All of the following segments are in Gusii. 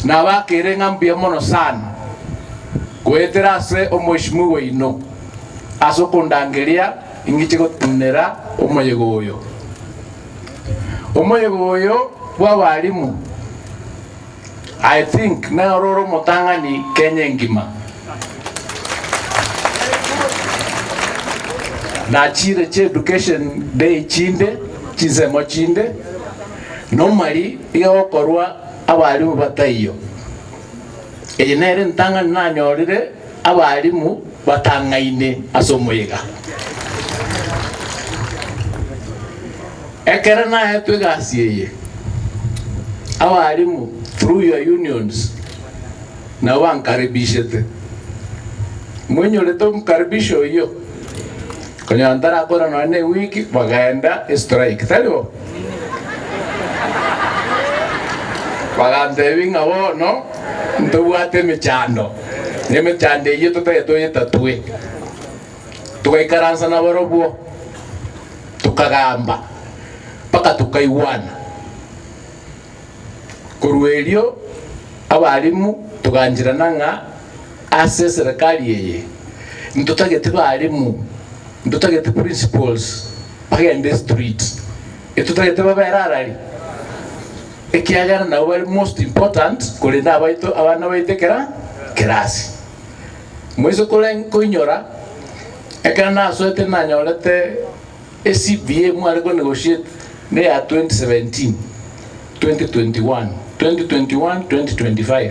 nabakeire ng'a mbuya mono sana goetera ase omweshimiwa oino ase okondangeria ingiche gotenenera omoyega oyo. Omoyega oyo bw'abalimu I think nere ore omotang'ani Kenya engima. Nachire ch'education day chinde, chinsemo chinde, Nomari iga gokorwa abarimu bataiyo. Eye nere entang'ani nanyorire abarimu batang'aine ase omoyega. Ekero naetwe egasi eye, abarimu through your unions nabo bankaribishete. Moinyorete omokaribisho oyio? Konya ntarakora nonya ne wiki bagaenda strike tari bo? Bagantebia ng'a bono ntobwate emechando, na emechando eyio totagete toyetatue. Togaikaransa nabarobwo tokagamba mpaka tokaigwana. Korwa erio abarimu togancherana ng'a. Ase eserekari eye ntotagete barimu, ntotagete principals bagende street, etotagete babe ararari, ekiagera nabo bare most important korende abaito abana baito ekera kerasi. Moise kore koinyora ekero nasoete nanyorete e CBA mware ko negotiate ne ya 2017, 2021, 2021, 2025.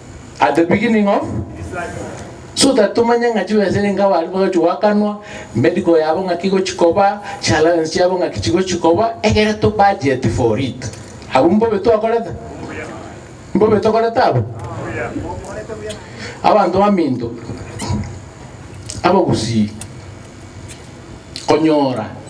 At the beginning of His life. So that tomanye ng'a chibesa renge abo aria bagochi goakanwa, medical yabo ng'aki igochi koba, chi allowance chiabo ng'aki chigochi koba, egere to budget for it. Abwo mbobe twakorete? Obuya. Mbobe tokorete abwo? Obuya. Okorete buya. Abanto baminto abagusii konyora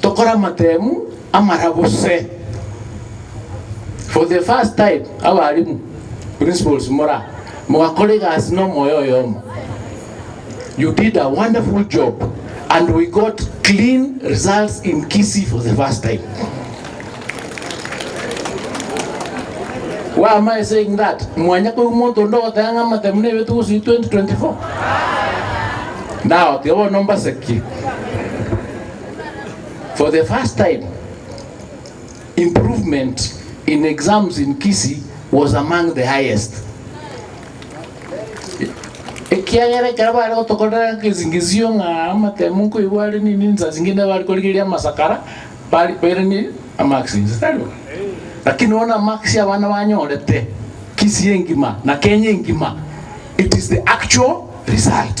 tokore amateemu amara gose for the first time abalimu, principals mora mogakora egasi na omoyo oyomo. You did a wonderful job and we got clean results in Kisii for the first time. Why am I saying that? Mwanya kwa umuntu onde ogoteba ng'a amatemu na ebetu gose 2024. Now tiga bono mbasekie. For the first time, improvement in exams in Kisii was among the highest. Ekiagera ekero bare gotokorera ekesingisio ng'a amatemu nkoigwa are nini nsa zingine bari korigeria amasakara bari bere ni amax nse tari bo. Lakini bono amax abana banyorete Kisii engima na Kenya engima it is the actual result.